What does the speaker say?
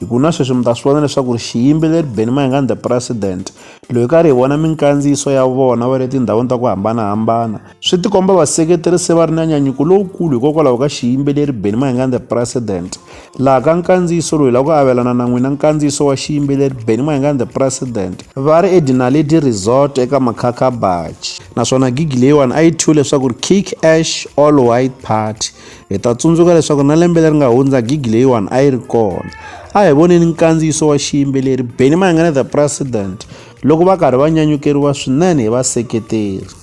Hi ku na sweswi mi ta swi vona leswaku ri xiyimbeleri Benny Mayengani the President loyi ka ri hi vona minkandziyiso ya vona va le tindhawini ta ku hambanahambana swi tikomba vaseketeri se va ri na nyanyuko lowukulu hikokwalaho ka xiyimbeleri Benny Mayengani the President laha ka nkandziyiso loyi la ku avelana na n'wina nkandziyiso wa xiyimbeleri Benny Mayengani the President va ri eDinaledi Resort eka Makhakha Bachi naswona gigi leyiwani a yi thyiwe leswaku ri Kick Ash All White Party hi ta tsundzuka leswaku na lembe leri nga hundza gigi leyiwani a yi ri kona a hi voneni nkandziyiso wa xiyimbeleri benny mayengana the president loko va karhi va nyanyukeriwa swinene hi vaseketeri